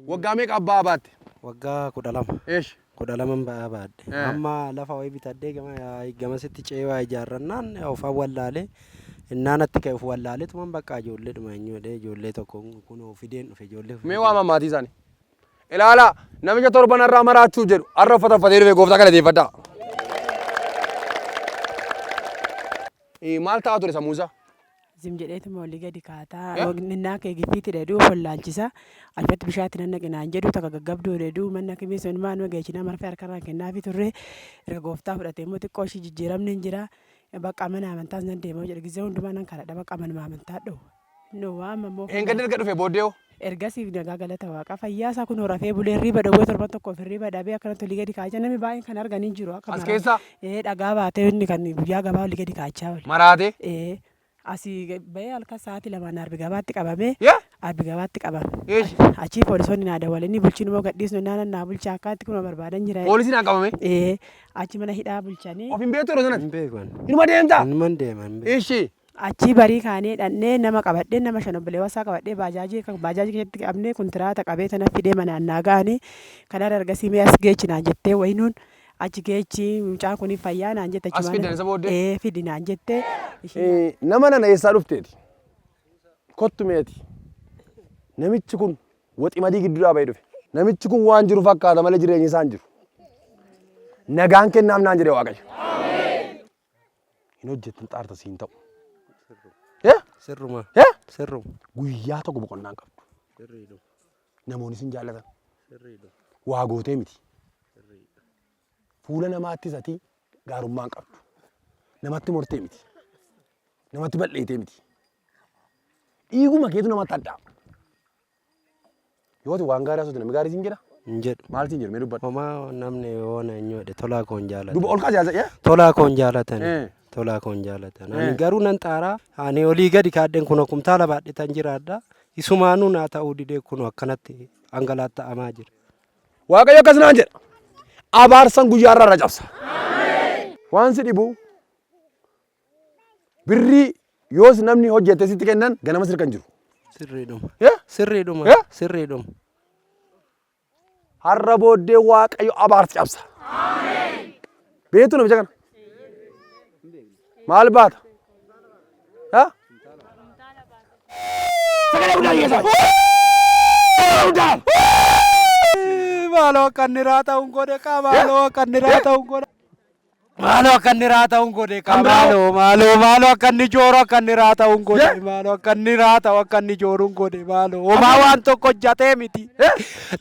Waggaa meeqa abbaa baatte? Waggaa kudha lama. Eesh. Kudha laman ba'aa baadhe. Eh. Amma lafa wayii bitadhee gama gamasitti ce'ee waa ijaarrannaan ofan wallaalee innaan atti ka'e of wallaaleetuman bakka ijoolleedhuma eenyu jedhee ijoollee tokko kunoo fideen dhufe ijoollee. Mee waama maatii isaanii. Ilaalaa, namicha torban har'aa maraachuu jedhu, har'a uffata uffatee dhufe gooftaa galateeffadhaa. Eh, Maal ta'aa ture sammuun isaa? Zim jedheetuma olii gadi kaataa. Eh? Minnaa kee giffiitti dheeduu of wallaalchisa. Alfatti bishaatti nan naqinaan jedhu takka gaggabduu dheeduu manna kimii sun maan mageechinaa marfee harkarraan kennaafi turre. Erga gooftaa fudhatee immoo xiqqoo ishii jijjiiramni hin jira. Bakka mana amantaas nan deema jedhu gizee hundumaa nan kadhadha bakka manuma amantaa dhoowwa. No waama moo Dheengadda erga dhufee booddee hoo? Ergasiif nagaa galata waaqaa fayyaa isaa kunoo rafee bulee hirriiba dhowwee torban tokkoof hirriiba dhabee akkanatti olii gadi kaachaa namni baay'een kan argan hin jiru akka As maraa. keessaa? Ee dhagaa baatee inni kan guyyaa gabaa olii gadi kaachaa oole. Maraatee? Ee asii bahee halkan sa'aatii lamaan arbi gabaatti qabamee Yee? arbi gabaatti qabame. Eesh. Achii poolisoonni naa dawwalanii bulchiin immoo gadhiisnu naanan naa bulchaa akkaatti kunoo barbaadan jira. Poolisiin haa qabamee? Ee achi mana hidhaa bulchanii. Of hin beektu yeroo sanas? Hin beeku ani. Inuma deemtaa? Inuma hin deema hin beeku. Ishii. Achii barii kaanee dhannee nama qabadhee nama shan obboleewwan isaa qabadhee baajaajii akka baajaajii keessatti qabnee kuntiraata qabee sana fidee manaan naa ga'anii kanarra ergasii mee as geechi naan jettee wayinuun achi geechi mucaan kun fayyaa naan jette As achumaan fidan isa booddee? ee fidi naan jette ishii Eh, nama nana eessaa dhufteeti kottu meeti namichi kun waximadii gidduu dhaabee dhufe namichi kun waan jiru fakkaata malee jireenyi isaan jiru nagaan kennaaf naan jedhe waaqayyo hin hojjettu xaarta siin ta'u. Eh? Sirruma. Eh? Sirruma. Guyyaa tokko boqonnaa hin qabdu. Sirriidha. Namoonni sin jaallatan. Sirriidha. Waa gootee miti. Sirriidha. Fuula namaattis ati gaarummaa hin qabdu. Namatti mortee miti. Namatti bal'eetee miti. Dhiiguma keetu namatti addaa. Yoo ati waan gaarii haasofte namni gaarii siin jedha? hin jedhu. Maal siin jedhu mee dubbadhu. Homaa namni yoo na hin yoodhe tolaa koon Duba jaalatan. ol kaasi haasa yaa. Tolaa koon jaalatan. Eh. Tolaa koon jaalatan. Eh. Ani garuu nan xaaraa. Ani olii gadi kaadheen kunoo kumtaala baadhetan jiraadha. Isumaanuu naa ta'uu didee kunoo akkanatti hangalaatta'amaa jira. Waaqayyo akkas naan jedha. Abaarsan guyyaa irraa irra cabsa. Waan si dhibu Birrii yoos namni hojjete sitti kennan ganamas hirkan jiru. Sirriidhuma. Yeah? Sirriidhuma. Yeah? Sirriidhuma. Har'a booddee Waaqayyo abaarsa cabsa. Beektu namicha kana? Maal baata? Yeah? Sagalee guddaa dhiyeessaa. Sagalee guddaa. Maaloo kan niraa ta'uun godhe qaa maaloo kan niraa ta'uun godhe. Maaloo akka inni raata'uun godhe kaa Kan biraa- maaloo maaloo maaloo akka inni jooru akka inni raata'uun godhe Ye- maaloo akka inni raata'u akka inni jooruun godhe maaloo homaa waan tokko hojjatee miti Eh?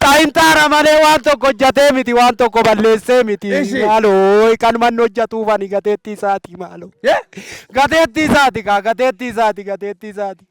xaayintaara malee waan tokko hojjatee miti waan tokko balleessee miti Ishi. maaloo kan manni hojjatuufani gateettii isaati maaloo Ye? gateettii isaati kaa gateettii isaati gateettii isaati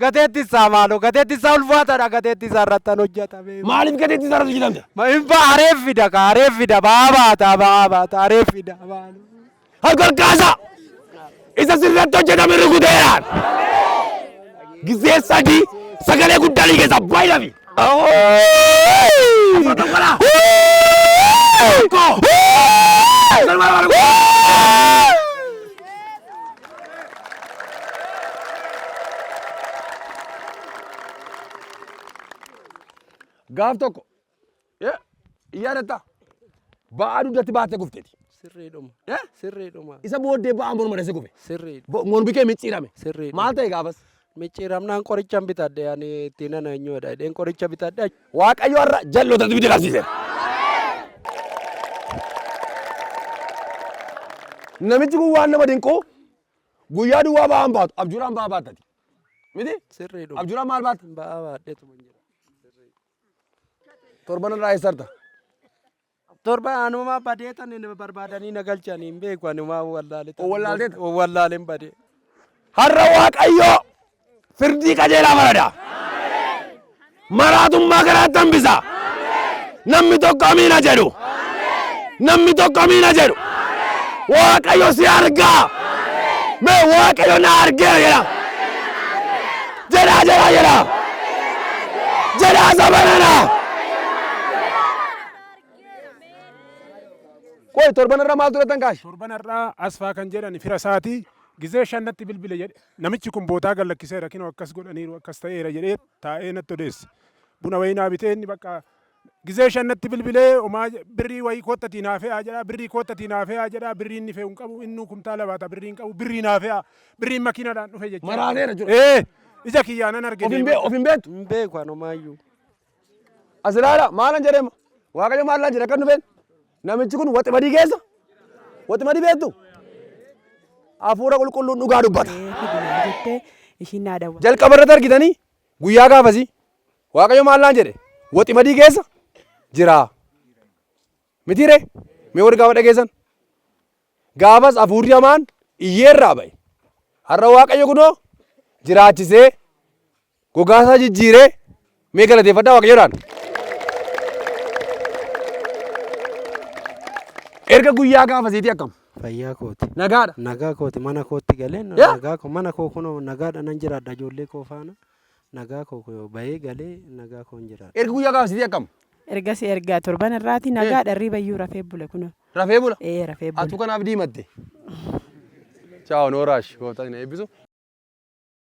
Gateetti isaa maaloo gateetti isaa ulfaataadha gateetti isaa irrattan hojjata mee. Maaliif gateetti isaa irratti hojjetamta? Ma hin ba'a areef fida ka areef fida ba'aa baata ba'aa baata areef fida maaloo. Harka kaasa! Isa sirratti hojjetame rukuteeraan! Gizee sadii sagalee guddaa ni keessa baay'inafi! Gaaf tokko yaadatta ba'aa dugdatti baattee kufteeti. Sirriidhuma. Eh? Sirriidhuma. Isa booddee ba'aa morma dhase kufe. Sirriidha. Bo- Mormi kee micciirame. Sirriidha. Maal ta'e gaafas? Micciiramnaan qorichan bitadhe ani ittiin ana eenyuudha jedheen qoricha bitadhe. Waaqayyo har'a jal'oota dibiti qabsiiseera. Namichi kun waan nama dinquu guyyaa duwwaa ba'aan baatu abjuudhaan ba'aa baattati. Miti? Sirriidhuma. Abjuudhaan maal baatta? Ba'aa baadheetuma jira. Torban irraa eessarta? Torba anuma badee tan hin barbaadanii na galchan hin beeku ani maa wallaale tan Owwallaaltee tan. owwallaalen badee. Har'a Waaqayyoo firdii qajeelaa farada. Maraatummaa karaatti hambisa. Namni tokko amiina jedhu. Namni tokko amiina jedhu. Waaqayyo si argaa. Mee Waaqayyo na argeera jedha. Jedhaa jedhaa jedhaa. Jedhaa zabanana. Qoy torban irra maal turattan kaash? Torban har'aa Asfaa kan jedhan fira isaati gizee shan natti bilbile jedhe. Namichi kun bootaa gad lakkiseera kinoo akkas godhaniiru akkas ta'eera jedhee taa'ee natti odeesse. Buna wayinaa bitee inni bakka Gizee shan natti bilbilee homaa birrii wayii koottatii naa fe'aa jedhaa birrii koottatii naa fe'aa jedhaa birrii inni fe'u hin qabu innuu kumtaala baata birrii hin qabu birrii naa fe'aa birriin makiinadhaan dhufe jechaa Maraaneera jira. Ee ija kiyyaa nan arge Of hin deemaa. bee- of hin beektu. Hin beeku an homaayyuu. As ilaala maalan jedheema. Waaqayyo maal naan jedhe kan dhufeen. Namichi kun waximadii keessa. Waximadii beektu. Hafuura qulqulluun dhugaa dubbata. fidinaa jettee ishiin naa dawwa. Jalqaba irratti argitanii Guyyaa gaafasii Waaqayyo maal naan jedhe? Waximadii keessa jira. Mitiiree? Mee warri gaafa dhageessan? Gaafas hafuurri hamaan iyyeerraa ba'e. Har'a Waaqayyo kunoo jiraachisee gogaasaa jijjiiree mee galateeffadhaa Waaqayyoodhaan. Erga guyyaa gaafasiitii akkam? Fayyaa kooti. Nagaadha. Nagaa kooti mana kootti galeen Yaa! nagaa koo mana koo kunoo nagaadha nan jiraadha ijoollee koo faana nagaa koo kunoo bahee galee nagaa koon jiraadha. Ergi guyyaa gaafa sitii akkam? Ergasii erga torban irraati nagaadha hirriba iyyuu rafee bule kunoo. Rafee bula? Ee rafee Atuu bule. kanaaf diimatte. Chaaw Nooraash gooftaan isin eebbisu.